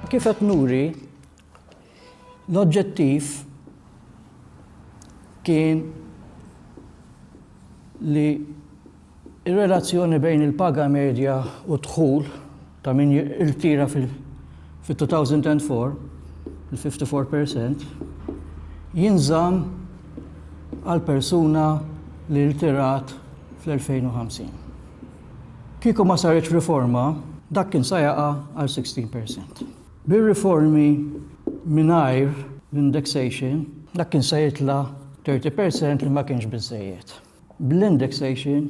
Kif qed nuri, l-oġġettiv kien li Ir-relazzjoni bejn il-paga medja u d-dħul ta' min jirtira fit-2004, il-54 per cent, jinżamm għal persuna li rtirat fl-2050. Kieku ma saritx riforma, dak kien sa jaqa' għal 16 per cent. Bir-riformi mingħajr l-indexation, dak kien sa jitla' 30 per cent li ma kienx biżżejjed. bl-indexation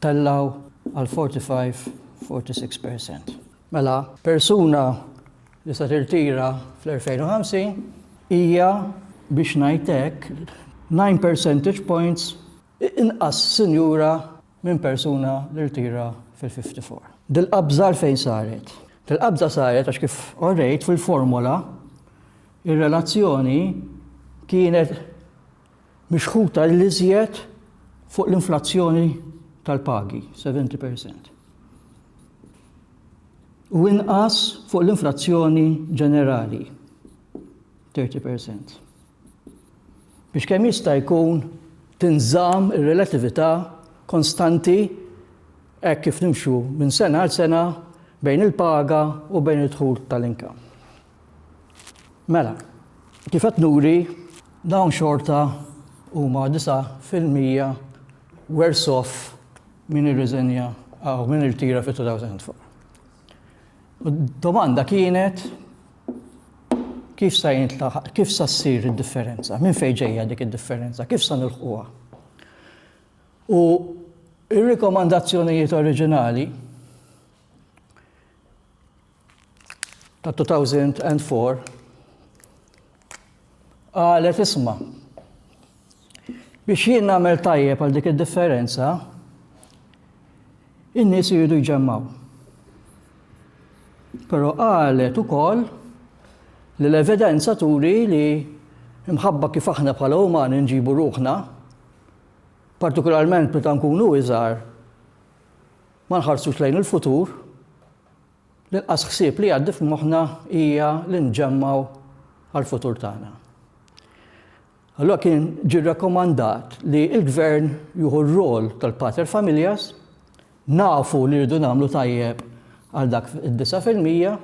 tellgħu għal 45, 46 per cent. Mela, persuna li se tirtira fl-2050 hija biex ngħid hekk 9 percentage points inqas sinjura minn persuna li rtira fil-54. Dil-qabża fejn saret? Dil-qabża saret għax kif orrejt fil-formula ir-relazzjoni kienet mixħuta l-iżjed fuq l-inflazzjoni tal-pagi, 70%, u inqas fuq l-inflazzjoni ġenerali, 30%. Biex kemm jista' jkun tinżamm ir-relatività konstanti hekk kif nimxu minn sena għal sena bejn il-paga u bejn id-dħul tal-inkam. Mela, kif qed nuri, dawn xorta huma 9% worse off min irriżenja aw min irtira fit-2004. U d-domanda kienet kif sa jintlaħaq, kif sa ssir id-differenza, minn fejn ġejja dik id-differenza, kif sa nilħquha. U ir-rikomandazzjonijiet oriġinali tal-2004 qalet isma' biex jien nagħmel tajjeb għal dik id-differenza in-nies iridu jġemmaw. Però qalet ukoll li l-evidenza turi li mħabba kif aħna bħala umani nġibu ruħna, partikolarment meta nkunu iżgħar, ma nħarsux lejn il-futur, L-inqas ħsieb li jgħaddi f'moħħna hija li nġemmgħu għall-futur tagħna. Allura kien ġie rrakkomandat li l-gvern jieħu r-rol tal-pater familjas, nafu li rridu nagħmlu tajjeb għal dak id-disa fil-mija,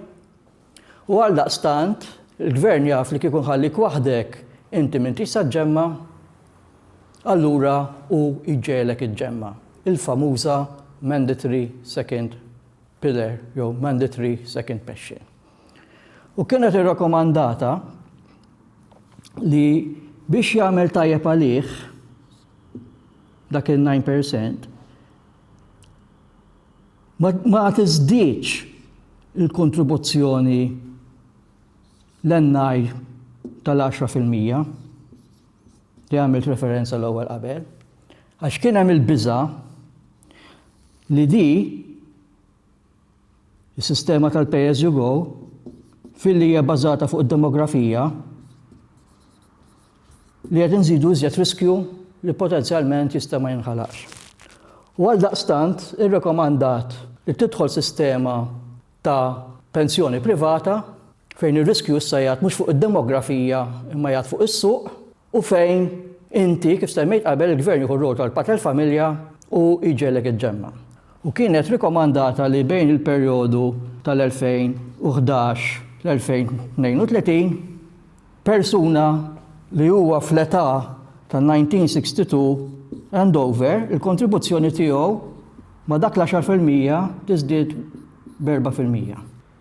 u għal daqstant il-gvern jaf li kikun ħallik waħdek inti minn tista' ġemma, allura u iġġelek iġġemma. Il-famuża mandatory second pillar jew mandatory second passion. U kienet irrakomandata li biex jagħmel tajjeb għalih dak il-9% ma tiżdiċ il-kontribuzzjoni l-ennaj tal-10% li għamilt referenza l-ewwel qabel, għax kien hemm il-biża' li di, is-sistema tal-pay as you go, filli hija bbażata fuq id-demografija, li qed inżidu iżjed riskju li potenzjalment jista' ma jinħalaqx. U għaldaqstant irrekomandat li tidħol sistema ta' pensjoni privata fejn ir-riskju issa jgħad mhux fuq id-demografija imma jgħad fuq is-suq u fejn inti, kif semmejt qabel, il-Gvern jieħu r-rwol tal-Pather Familia u jġegħlek iġġemma'. U kienet rikomandata li bejn il-perjodu tal-2011 l-2032, persuna li huwa fl-età tan-1962 and over, il-kontribuzzjoni tiegħu ma' dak l-għaxar fil-mija tiżdied b'erba' fil-mija.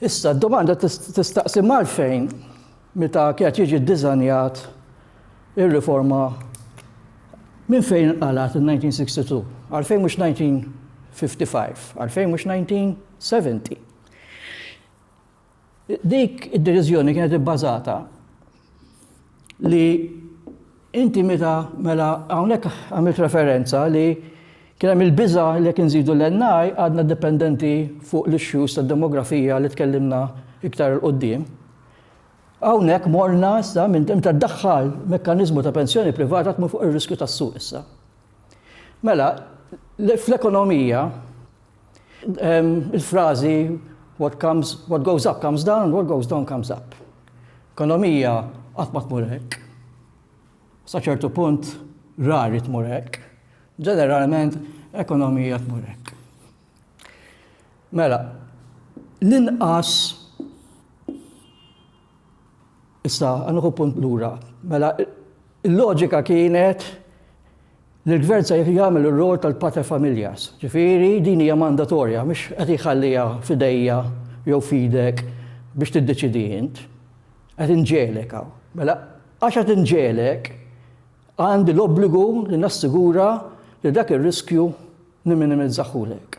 Issa, d-domanda tistaqsi m'għalfejn meta kienet jiġi ddiżanjat ir-riforma minn fejn inqalgħet in-1962? Għalfejn mhux 1955? Għalfejn mhux 1970? Dik id-deċiżjoni kienet ibbażata li inti meta mela hawnhekk għamilt referenza li kien hemm il-biża' li jekk inżidu l-NI għadna dipendenti fuq l-issues tad-demografija li tkellimna iktar 'il quddiem. Hawnhekk morna issa minn inti ddaħħal mekkaniżmu ta' pensjoni privata tmur fuq ir-riskju tas-suq issa. Mela, fl-ekonomija Il-frażi what comes, what goes up comes down, what goes down comes up. Ekonomija qatt ma tmur hekk. Sa ċertu punt rari tmur hekk. Ġeneralment ekonomija tmur hekk. Mela, l-inqas Issa, nieħu punt lura. Mela, il-loġika kienet li l-gvern se jagħmel ir-rol tal-pater familjas. Ġifieri din hija mandatorja, mhux qed jħalliha f'idejja jew f'idek biex tiddeċidi int. Qed inġelek hawn. Mela, għax qed inġelek, għandi l-obbligu li nassigura li dak ir-riskju nimminimizzahulek.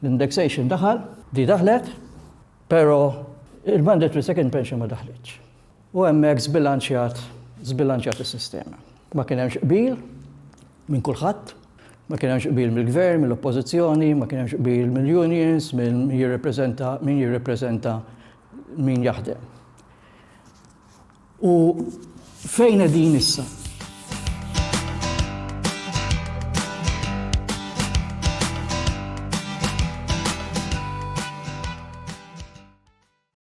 L-indexation daħal, di daħlet, pero il-mandatory second pension ma daħlitx. U hemmhekk zbilanċjat, zbilanċjat is-sistema. Ma kien hemmx qbil minn kulħadd, ma kien hemmx qbil mill-gvern, mill-oppożizzjoni, ma kien hemmx qbil mill-unions, minn jirrepreżenta min jirrepreżenta min jaħdem. U fejn qegħdin issa?